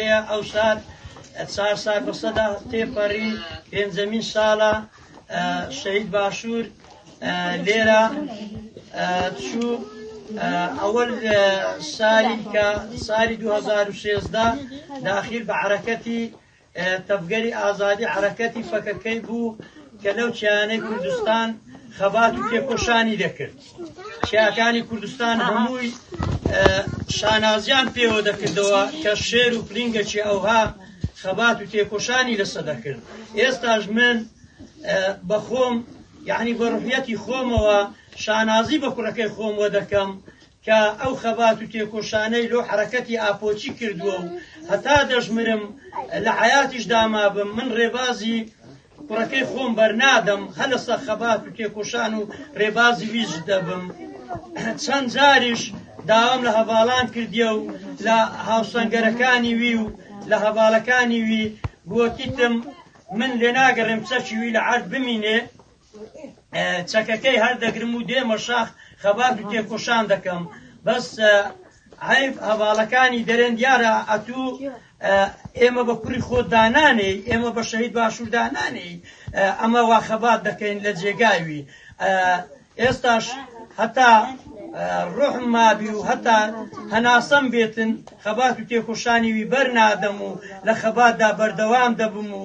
هەیە ئەو سات چار سار بەسەدا تێپەڕی پێنجەمین ساڵە شەهید باشوور لێرە چوو ئەوە ساری کە ساری 2016 داخل بە عرەکەتی تەفگەری ئازادی عرەکەتی فەکەکەی بوو کە لەو چیانەی کوردستان خەبات و تێکۆشانی دەکرد. چیاکانی کوردستان هەمووی شانازیان پێوە دەکردەوە کە شێر و پلینگەکی ئەوها خەبات و تێکۆشانی لەسە دەکرد ئێستاش من بەخۆم یعنی بەڕحەتی خۆمەوە شانازی بە کوڕەکەی خۆم وە دەکەم کە ئەو خەبات و تێکۆشانەی لۆ حرەکەتی ئاپۆچی کردووە و هەتا دەژمرم لە حیاتیش دامابم من ڕێبازی کوڕەکەی خۆم بەرنادەم هە لەسە خەبات و تێکۆشان و ڕێبازی ویژ دەبم چەند جاریش داوام لە هەڤاڵان کردیە و لە هاوسەنگەرەکانی وی و لە هەڤاڵەکانی وی گوتیتم من لێ ناگەڕێم چەکی وی لە عرد بمینێ چەکەکەی هەردەگرم و دێمە شاخ خەبات و تێکۆشان دەکەم بەس عەیب هەڤاڵەکانی دەرێن دیارە ئەتوو ئێمە بە کوڕی خۆت دانانێی ئێمە بە شەهید باشوور دانانێی ئەمە وا خەبات دەکەین لە جێگاوی ئێستاش هەتا ڕۆحم مابی و هەتا هەناسەم بێتن خەبات و تێکۆشانی وی بەر نادەم و لە خەباتدا بەردەوام دەبم و